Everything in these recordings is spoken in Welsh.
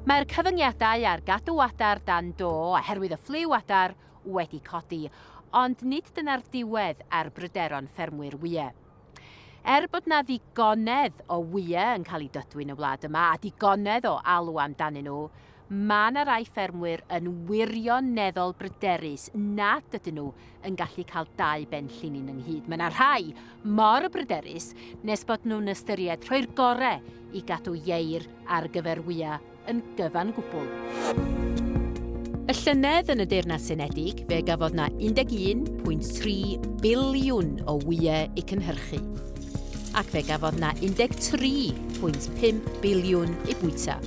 Mae'r cyfyngiadau ar gadw adar dan do oherwydd y ffliw adar wedi codi, ond nid dyna'r diwedd ar bryderon ffermwyr wyau. Er bod 'na ddigonedd o wyau yn cael eu dodwy yn y wlad yma a digonedd o alw amdanyn nhw, mae 'na rai ffermwyr yn wirioneddol bryderus nad ydyn nhw yn gallu cael dau ben llinyn ynghyd. Mae yna rhai mor bryderus nes bod nhw'n ystyried rhoi'r gore i gadw ieir ar gyfer wya yn gyfan gwbl. Y llynedd yn y Deyrnas Unedig, fe gafodd na 11.3 biliwn o wyau i cynhyrchu, ac fe gafodd na 13.5 biliwn i bwyta.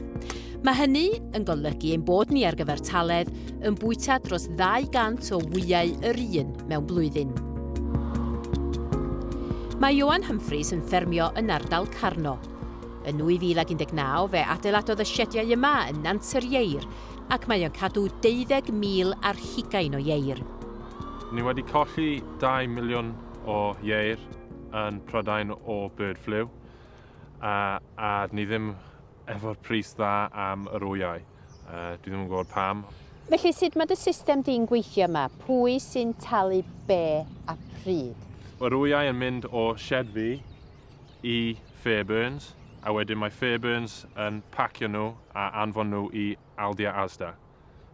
Mae hynny yn golygu ein bod ni ar gyfer taledd yn bwyta dros 200 o wyau yr un mewn blwyddyn. Mae Ioan Humphreys yn ffermio yn ardal Carno. Yn 2019 fe adeiladodd y siediau yma yn Nant yr Ieir ac mae o'n cadw 20,000 ar hugain o ieir. Ni wedi colli 2 miliwn o ieir yn Prydain o bird flu a, a ni ddim Efo'r pris dda am yr wyau. Dwi ddim yn gwybod pam. Felly sut mae dy system di'n gweithio yma? Pwy sy'n talu be a pryd? Mae'r wyau yn mynd o shed fi i Fairburns a wedyn mae Fairburns yn pacio nhw a anfon nhw i Aldi a Asda.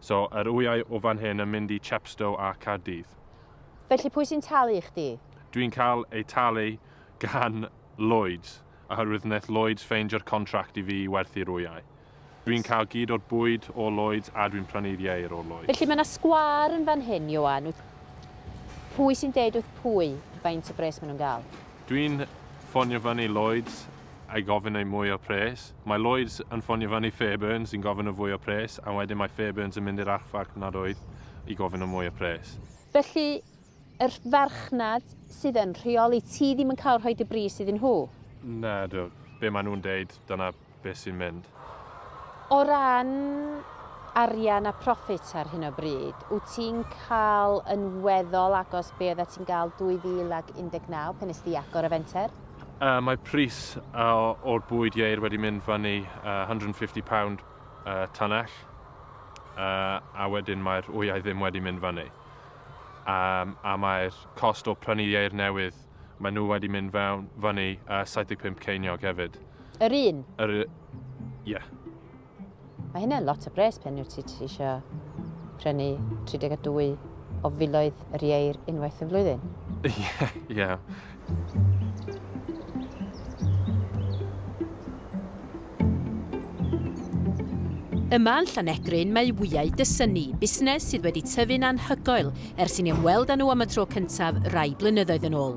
So yr wyau o fan hyn yn mynd i Chepstow a Caerdydd. Felly pwy sy'n talu i chdi? Dwi'n cael eu talu gan Lloyds oherwydd wnaeth Lloyds ffeindio'r contract i fi i werthu'r wyau. Dwi'n cael gyd o'r bwyd o Lloyds a dwi'n prynu'r ieir o Lloyds. Felly mae 'na sgwâr yn fan hyn, Ioan, wyt? Pwy sy'n deud wrth pwy faint o bres maen nhw'n gael? Dwi'n ffonio fyny i Lloyds a gofyn am mwy o pres. Mae Lloyds yn ffonio fyny i Fairburns yn gofyn am fwy o pres a wedyn mae Fairburns yn mynd i'r archfarchnad oedd i gofyn am mwy o pres. Felly, Yr farchnad sydd yn rheoli ti ddim yn cael rhoi dy bris iddyn nhw? Nadw. Be maen nhw'n deud, dyna beth sy'n mynd. O ran arian a proffit ar hyn o bryd, wyt ti'n cael yn weddol agos be oeddet ti'n gael 2019 pan nes di agor y fenter? Yy, mae pris yy o'r bwyd ieir wedi mynd fyny yy £150 yy tunnell yy a wedyn mae'r wyau ddim wedi mynd fyny. a mae'r cost o prynu ieir newydd, maen nhw wedi mynd fewn fyny 75 ceiniog hefyd. Yr un? Yr... ie. Mae hynny'n lot o bres pen wyt ti eisiau prynu 32 o filoedd yr ieir unwaith y flwyddyn. Ie, ie. Yma yn Llanegryn mae Wyau Dysynni, busnes sydd wedi tyfu'n anhygoel ers i ni ymweld â nhw am y tro cyntaf rai blynyddoedd yn ôl.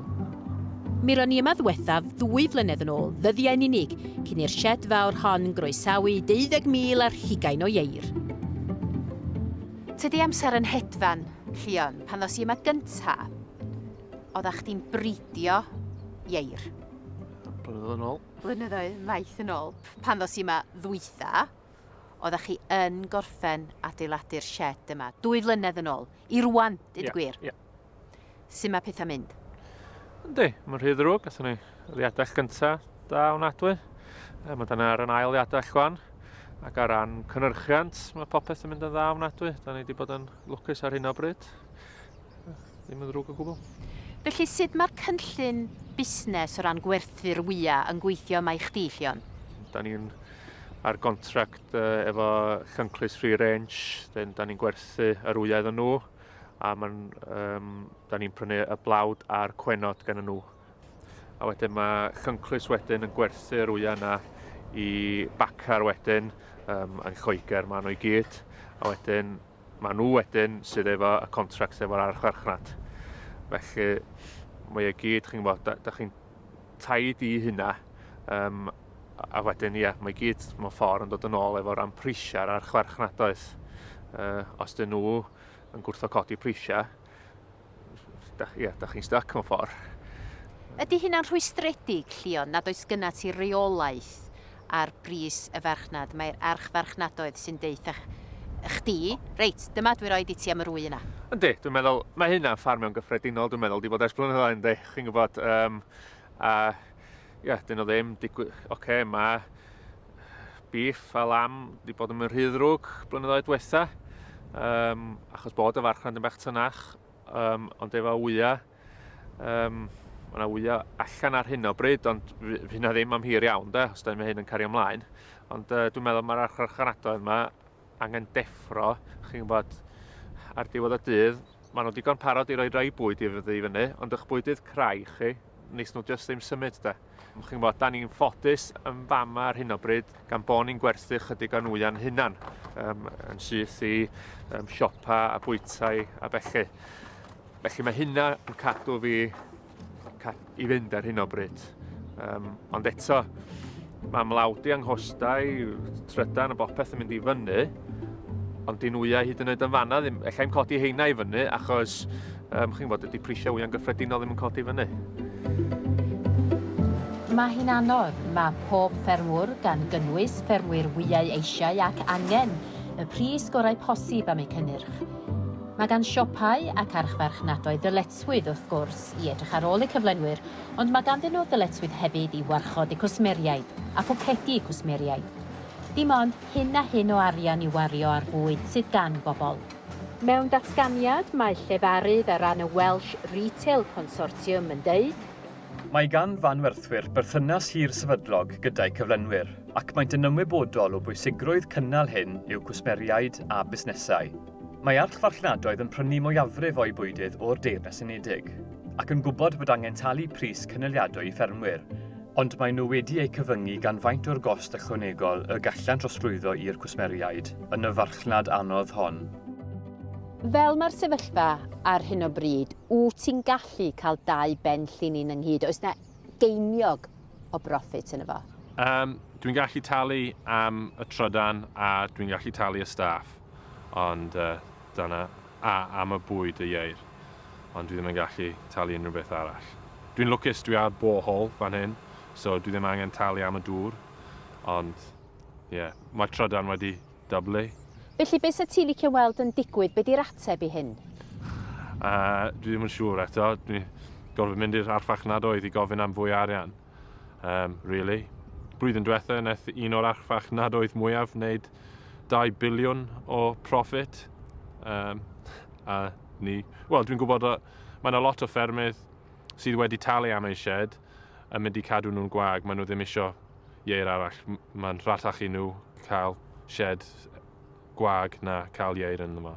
Mi ro'n ni yma ddiwethaf ddwy flynedd yn ôl, ddyddiau'n unig, cyn i'r sied fawr hon groesawu 20,000 ar hugain o ieir. Tydi amser yn hedfan, Llion, pan ddos i yma gynta'. Oedda chdi'n bridio ieir. Blynyddoedd yn ôl. Blynyddoedd maith yn ôl. Pan ddos i yma ddwytha, oedda chi yn gorffen adeiladu'r shed yma. Dwy flynedd yn ôl. I rwan, dyd yeah, gwir. Yeah. Sut mae pethau mynd? Yndi, mae'n rhy ddrwg. Gatho ni liadell gynta da o'n adwy. E, mae dyna ar yn ail liadell chwan. Ac ar ran cynnyrchiant, mae popeth yn mynd yn dda o'n adwy. Da ni wedi bod yn lwcus ar hyn o bryd. Ddim yn ddrwg o gwbl. Felly sud mae'r cynllun busnes o ran gwerthu'r wyau yn gweithio yma i chdi, Llion? Da ni'n ar gontract uh, efo Llynclys Free Range, then da ni'n gwerthu yr wyau iddyn nhw, a man, um, da ni'n prynu y blawd a'r cwenod gan nhw. A wedyn mae Llynclys wedyn yn gwerthu'r wyau yna i bacar wedyn um, yn Lloegr, maen nhw i gyd, a wedyn Maen nhw wedyn sydd efo y contract efo'r archfarchnad. Felly, mae o gyd, chi'n gwybod, da, da chi'n taid i hynna. Um, a wedyn, ia, mae gyd mewn ffordd yn dod yn ôl efo ran prisiau ar archfarchnad oes. Uh, os dyn nhw yn gwrtho codi prisiau, Da, ia, da chi'n stuck mewn ffordd. Ydy hynna'n rhwystredig, Llion, nad oes gyna ti reolaeth ar bris y farchnad? Mae'r archfarchnadoedd sy'n deitha chdi, reit, dyma dwi roi di ti am yr wy yna. Yndi, dwi'n meddwl, mae hynna'n ffarm mewn gyffredinol, dwi'n meddwl, di bod ers blynyddoedd yndi, chi'n gwybod, um, a ia, dyn nhw ddim, digwy, oce, okay, mae bîff a lam wedi bod yn mynd rhy ddrwg blynyddoedd diwetha, um, achos bod y farchnad yn bach tynach, um, ond efo wyau, um, mae yna wyau allan ar hyn o bryd, ond fi na ddim am hir iawn, de, os da ni'n hyn yn cario ymlaen. Ond uh, dwi'n meddwl mae'r archfarchnadoedd yma angen deffro, chi'n gwybod, ar diwedd y dydd, maen nhw digon parod i roi rhai bwyd i fyddu i fyny, ond ych bwydydd crai chi, nes nhw jyst ddim symud da. Chi'n gwybod, da ni'n ffodus yn fama ar hyn o bryd gan bod ni'n gwerthu chydig o nwya'n hunan, um, yn syth i um, siopa a bwytau a felly. Felly mae hynna yn cadw fi i fynd ar hyn o bryd. Um, ond eto, mae mlawdi anghostau, trydan a bopeth yn mynd i fyny, ond dyn wyau hyd yn oed yn fanna ddim, efallai yn codi heina i fyny, achos um, chi'n fod ydy prisiau wyau'n gyffredinol ddim yn codi i fyny. Mae hi'n anodd, mae pob ffermwr, gan gynnwys ffermwyr wyau eisiau ac angen, y pris gorau posib am eu cynnyrch. Mae gan siopau ac archfarchnadoedd ddylet ddyletswydd, wrth gwrs, i edrych ar ôl eu cyflenwyr, ond mae ganddyn nhw ddyletswydd hefyd i warchod eu cwsmeriaid a phocedi eu cwsmeriaid. Dim ond hyn a hyn o arian i'w wario ar fwyd sydd gan bobl. Mewn datganiad, mae llefarydd ar ran y Welsh Retail Consortium yn deud. Mae gan fanwerthwyr berthynas hir sefydlog gyda'u cyflenwyr ac maent yn ymwybodol o bwysigrwydd cynnal hyn i'w cwsmeriaid a busnesau. Mae archfarchnadoedd yn prynu mwyafrif o'u bwydydd o'r Deyrnas Unedig, ac yn gwybod bod angen talu pris cynaliadwy i ffermwyr, ond maen nhw wedi eu cyfyngu gan faint o'r gost ychwanegol y gallant drosglwyddo i'r cwsmeriaid yn y farchnad anodd hon. Fel mae'r sefyllfa ar hyn o bryd, wyt ti'n gallu cael dau ben llinyn ynghyd, oes 'na geiniog o broffit yn y fo. Um, dwi'n gallu talu am y trydan a dwi'n gallu talu y staff, ond uh, dyna, a am y bwyd y ieir, ond dwi ddim yn gallu talu unrhyw beth arall. Dwi'n lwcus dwi ar borehole fan hyn, so dwi ddim angen talu am y dŵr, ond ie, yeah, mae trydan wedi Dyblu. Felly be 'sa ti licio weld yn digwydd? Be 'di'r ateb i hyn? Uh, dwi ddim yn siŵr eto. Dwi gorfod mynd i'r archfarchnadoedd i gofyn am fwy o arian. Um, really. Blwyddyn diwetha, wnaeth un o'r archfarchnadoedd mwyaf wneud 2 biliwn o profit. Um, a ni... Wel, dwi'n gwybod o... Mae yna lot o ffermydd sydd wedi talu am eu shed yn mynd i cadw nhw'n gwag. Maen nhw ddim eisiau ieir arall. Mae'n rhatach i nhw cael sied gwag na cael ieir yn yma.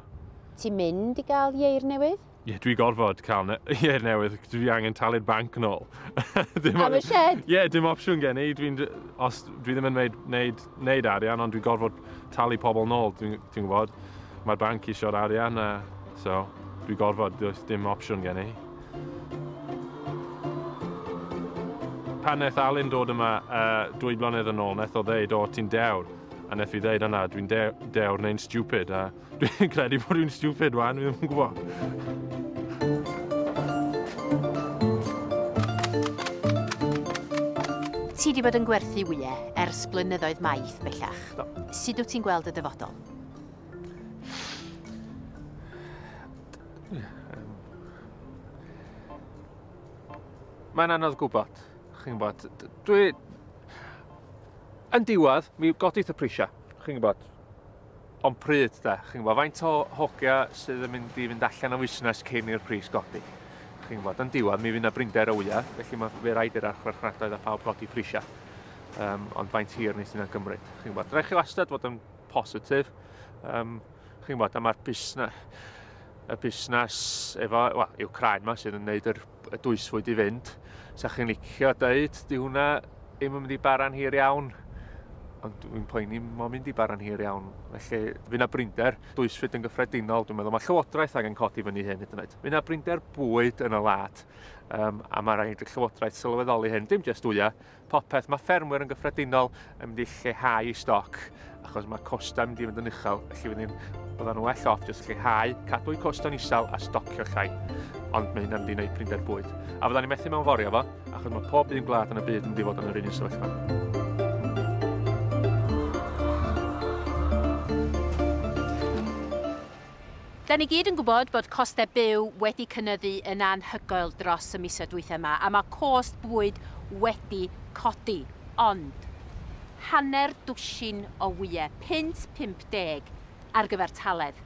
Ti'n mynd i gael ieir newydd? Ie, dwi gorfod cael ne ieir newydd. Dwi angen talu'r banc yn ôl. Am y sied? Ie, dim opsiwn gen i. Dwi'n... Os... Dwi ddim yn wneud, wneud, wneud arian, ond dwi gorfod talu pobl yn ôl. Dwi'n dwi gwybod. Mae'r banc isio'r arian, a... So, dwi gorfod. Does dim opsiwn gen i. Pan wnaeth Alun dod yma uh, dwy blynedd yn ôl, wnaeth o ddeud, o, ti'n dewr. A wnaeth i ddeud, yna, dwi'n dewr neu'n stupid. A dwi'n credu bod dwi'n stupid, wan, fi ddim yn gwybod. Ti wedi bod yn gwerthu wyau ers blynyddoedd maith bellach. Do. Sut wyt ti'n gweld y dyfodol? Mae'n anodd gwybod, chi'n gwybod. Dwi... Yn diwedd, mi godith y prisiau, chi'n gwybod. Ond pryd, da, chi'n gwybod, faint o hogia sydd yn mynd i fynd allan o fusnes cyn i'r pris godi. Chi'n gwybod, yn diwedd, mi fydd yna brinder o wyau, felly mae fe rhaid i'r archfarchnadoedd a phawb godi prisiau. Um, ond faint hir nes yna gymryd, chi'n gwybod. Rhaid chi wastad fod yn positif. Um, chi'n gwybod, a mae'r busnes, y busnes efo, well, yw craen yma sydd yn gwneud yr, y dwysfwyd i fynd. Sa chi'n licio dweud, di hwnna ddim yn mynd i baran hir iawn, ond dwi'n poeni mo mynd i baran hir iawn. Felly, fy na brinder, dwysfwyd yn gyffredinol, dwi'n meddwl, mae Llywodraeth angen codi fyny hyn hyd yn oed. Fy na brinder bwyd yn y lad, um, a mae rhaid y Llywodraeth sylweddoli hyn, dim jyst wyau, popeth. Mae ffermwyr yn gyffredinol yn mynd i lleihau i stoc achos mae costau yn mynd i fynd yn uchel, felly wedyn bydda'n nhw well off jyst lleihau, cadw'u costau'n isel a stocio llai. Ond mae hynna'n mynd i wneud prinder bwyd. A fydda'n ni methu mewn forio fo, achos mae pob un gwlad yn y byd yn mynd i fod yn yr un sefyllfa. Da ni gyd yn gwybod bod costau byw wedi cynyddu yn anhygoel dros y misoedd dwytha yma, a mae cost bwyd wedi codi. Ond, hanner dwsin o wyau, punt 50 ar gyfer taledd.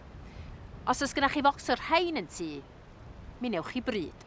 Os oes gennych chi focs o'r rhain yn tŷ, mi newch chi bryd.